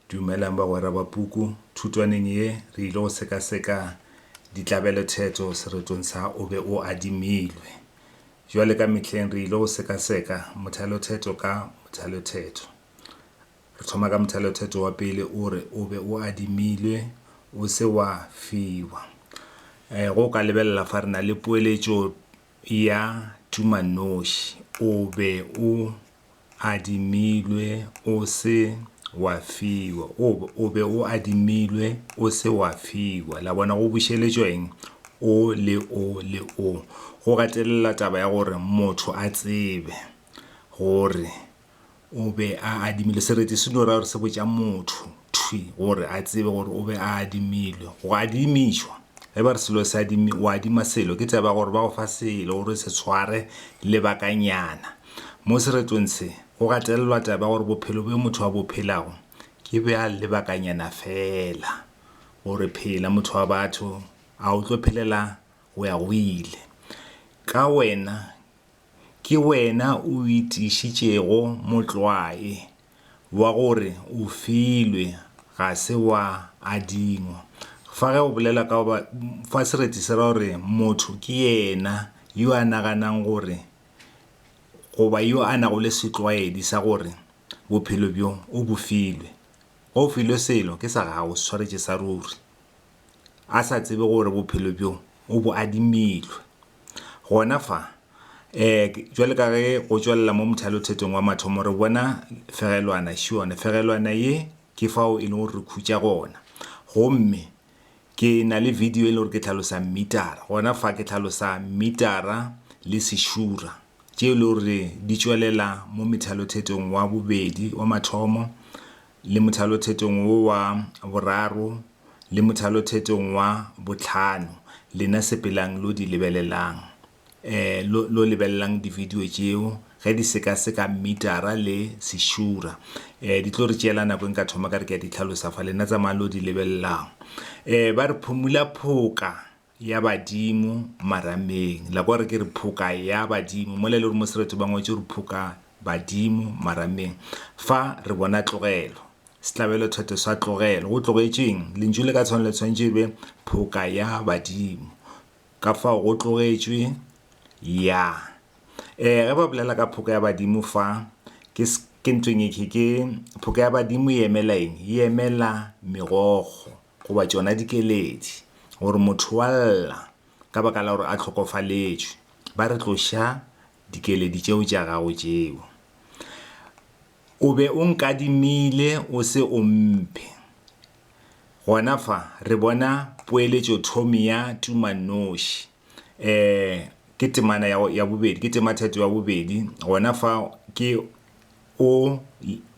Dumelang bagwera ba puku. Thutwaneng ye re ile go sekaseka ditlabelothetho seretong sa o be o adimilwe. Bjale ka mehleng re ile go sekaseka mothalothetho ka mothalothetho. Re thoma ka mothalothetho wa pele o re o be o adimilwe o se wa fiwa. Eh, go ka lebelela fa re na le poeletšo ya tumanoši o be o adimilwe o se wa fiwa o, o be o adimilwe o se wa fiwa la bona go bušeletšwa eng o le o le o go gatelela taba ya gore motho a tsebe gore o be a adimile sereti se no ra gore se botša motho thwi gore a tsebe gore o be a adimilwe go adimišwa ge ba re selo se adimi o adima selo ke tseba gore ba go fa selo gore se tshware lebakanyana mo seretong se go gatelelwa taba gore bophelo bjo motho wa bophelago ke bja lebakanyana fela gore phela motho wa batho a o tlo phelela go ya go ile ka wena ke wena o itišitšego motlwae wa gore o filwe ga se wa adingwa. Fa ge o bolela ka ba fa sereti se ra gore motho ke yena yo a naganang gore goba yo a nago le setlwaedi sa gore bophelo bjo o bo filwe. Ge o filwe selo ke sa gago se tshwaretše sa ruri. a sa tsebe gore bophelo bjo o bo adimilwe. Gona fa, um jwale ka ge go tšwelela mo mothalothetong wa mathomo re bona fegelwana šione. Fegelwana ye ke fao e leng gore re khutša gona. Gomme ke na le video e le gore ke tlhalosa mmitara. Gona fa ke tlhalosa mmitara le sešura tše e le gore di tšwelela mo methalothetong wa bobedi wa mathomo le mothalothetong wo wa boraro le mothalothetong wa bohlano, lena sepelang lo di lebelelang, eh, lo, lo lebelelang dividio tšeo, ge di sekaseka mmitara le sešura. Eh, di tlo re tšeela nako e nka thoma ka re ke a di hlalosa fa, lena tsamayang lo di lebelelang. Eh, ba re phumula phoka. ya badimo marameng la kwa re ke re phoka ya badimo mola e le gore mo sereto ba ngwetše gore phoka badimo marameng fa re bona tlogelo setlabelo thete sa tlogelo go tlogetšeng lentšu le ka tshwana le tshwanetse e be phoka ya badimo ka fao go tlogetšwe ya um ge ba bolela ka phoka ya badimo fa ke ke ntweng e ke ke phoka ya badimo e emela eng e emela megogo goba tšona dikeledi, gore motho wa lla ka baka la gore a hlokofaletšwe, ba re tloša dikeledi tšeo tša gago tšeo o be o nkadimile o se o mphe. Gona fa re bona poeletšothomi ya tumanoši. um ke temana ya bobedi ke tema theto ya bobedi gona fa ke o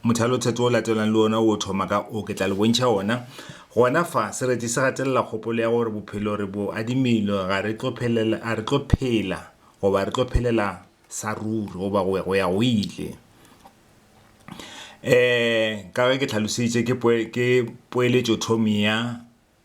mothalo theto o latelang le ona o thoma ka o ke tla le bontšha ona gona fa sereti se gatelela kgopolo ya gore bophelo re bo adimile ga re tlo phelela a re tlo phela goba re tlo phelela sa ruri goba go ya go ile um ka ge ke tlhalositše ke poeletšo thomi ya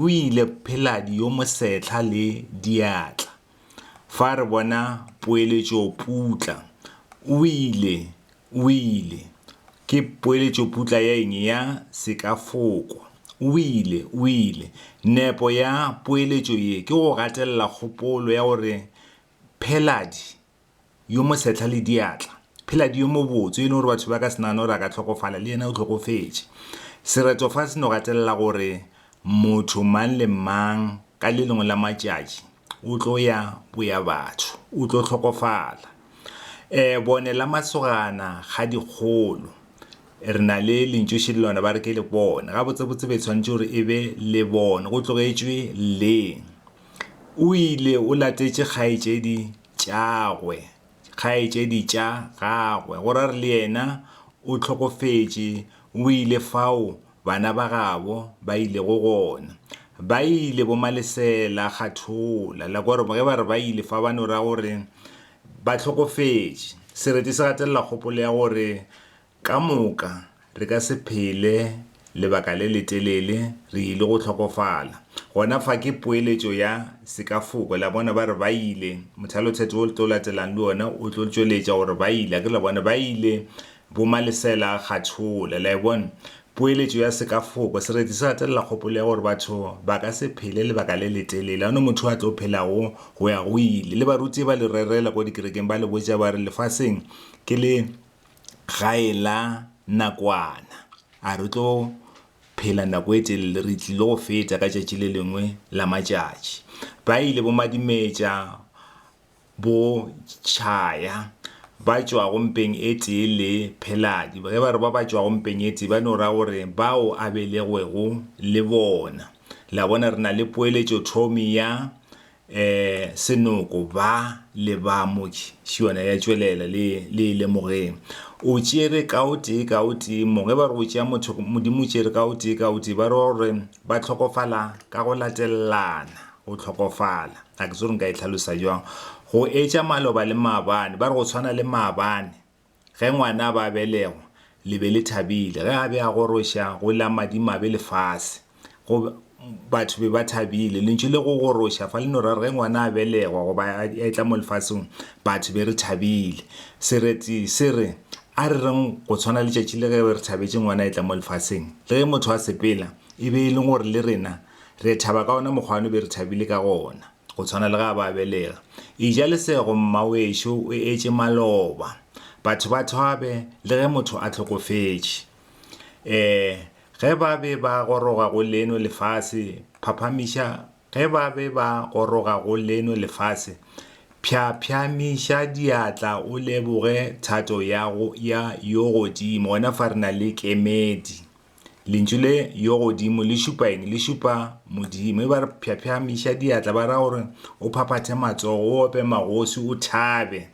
O ile Pheladi yo Mosetlha le diatla. Fa re bona poeletšoputla, o ile, o ile. Ke poeletšoputla ya eng? Ya sekafoko. O ile, o ile. Nepo ya poeletšo ye ke go gatelela kgopolo ya gore Pheladi yo mo sehla le diatla. Philadi yo mobotse, yo e lego gore batho ba ka se nagane gore a ka hlokofala, le yena o hlokofetše. Sereto fa se no gatelela gore motho mang le mang ka le lengwe la matšatši o tlo ya boya batho, o tlo hlokofala. Um bone la masogana ga dikgolo, re na le lentšoši le lona ba re ke lebone, gabotsebotse be e swanetše gore e be lebone, go tlogetšwe le. O ile o latetše kgaetšedi tšagwe, kgaetšedi tša gagwe, go ra re le yena o hlokofetše, o ile fao bana ba gabo ba ilego gona. Ba ile bomalesela kgathola, la kwa gore ge ba re ba ile fa ba no ra gore ba hlokofetše. Sereti se gatelela kgopolo ya gore Ka moka, re ka se phele lebaka le letelele re ile go hlokofala. Gona fa ke poeletšo ya sekafoko. Le a bona, ba re, Ba ile. Mothalotheto wo o tlo latelang le wona o tlo tšweletša gore ba ile. Akere le a bona? Ba ile, bomalesela a kgathola. Le a e bona? Poeletšo ya sekafoko. Sereti se gatelela kgopolo ya gore batho ba ka se phele lebaka le letelele. Ga go na motho yo a tlo phelago go ya go ile. Le baruti ba le rerela kua dikerekeng, ba le botša ba re, Lefaseng ke le. ga e la nakwana a re tlo phela nako e telele re tlile go feta ka tšatši le lengwe la matšatši ba ile bo madimetša bo tšhaya ba tšwago mpeng e tee le pheladi ge ba re ba ba tšwago mpeng e tee ba no ra gore bao a belegwego le bona la bona re na le poeletšo thomi ya Senoko, ba le ba mo tšhiwana ya tšwelela, le, le e lemogeng. O tšere ka o tee, ka o tee mo. Ge ba re o tšea motho, Modimo o tšere ka o tee, ka o tee. Ba re, gore ba hlokofala ka go latelelana, go hlokofala. Ga ke tsebe gore nka e hlalosa bjang. Go etša maloba le maabane. Ba re go tshwana le maabane. Ge ngwana a ba belegwa, le be le thabile. Ge a be a goroša, go la madimabe lefase. Go, batho be ba thabile. Lentšu le go goroša fa le no ra re ge ngwana a belegwa goba a etla mo lefaseng, batho be re thabile. Sereti se re, A re reng go tshwana letšatši le ge re thabetše ngwana a etla mo lefaseng. Le ge motho a sepela, e be e le gore le rena re thaba ka wona mokgwa no be re thabile ka gona. go tshwana le ga ba belega. Eja lesego, mmawešo, o etše maloba. Batho ba thabe le ge motho a hlokofetše. Ee, ge ba be ba goroga go leno lefase, phaphamiša, ge ba be ba goroga go leno lefase, pšhapšhamiša diatla o leboge thato ya, go, ya yo godimo. Gona fa re na le kemedi. Lentšu le yo godimo le šupa eng? Le šupa Modimo. E ba re phyaphyaamiša diatla, ba ra gore o phaphathe matsogo, o ope magosi, o thabe.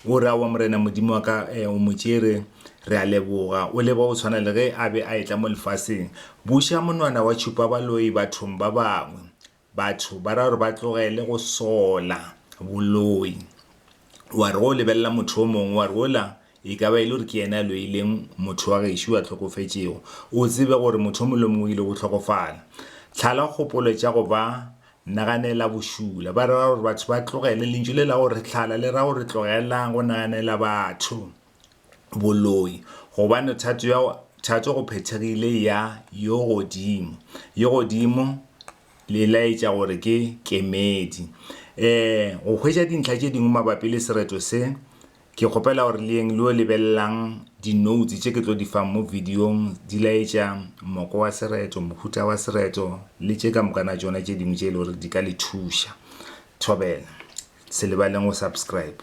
O re awa Morena Modimo wa ka, eh, o mo tšere, re a leboga. O leba o tshwana le ge a be a etla mo lefaseng. Buša monwana wa tšhupa baloi bathong ba bangwe. Batho ba ra gore ba tlogele go sola boloi. Wa re go lebelela motho o mongwe, wa re ola e ka ba e le gore ke yena a loileng motho wa gešo a tlhokofetšego. O tsebe gore motho o mongwe le mongwe o ile go tlhokofala. Tlhala kgopolo tša go ba naganela bošula. Ba ra gore batho ba tlogele. Lentšu le la gore tlhala le ra gore tlogelang go naganela batho. boloi, gobane thato ya thato go phethegile ya yo godimo. Yo godimo le laetša gore ke kemedi. Eh go hwetša dintlha tše dingwe mabapi le sereto se, ke kgopela gore le yeng le yo lebelelang di-notes tše ke tlo di fang mo videong di laetša moko wa sereto, mohuta wa sereto le tše ka mokana tšona tše dingwe tše e le gore di ka le thuša. Thobela, se lebaleng go subscribe.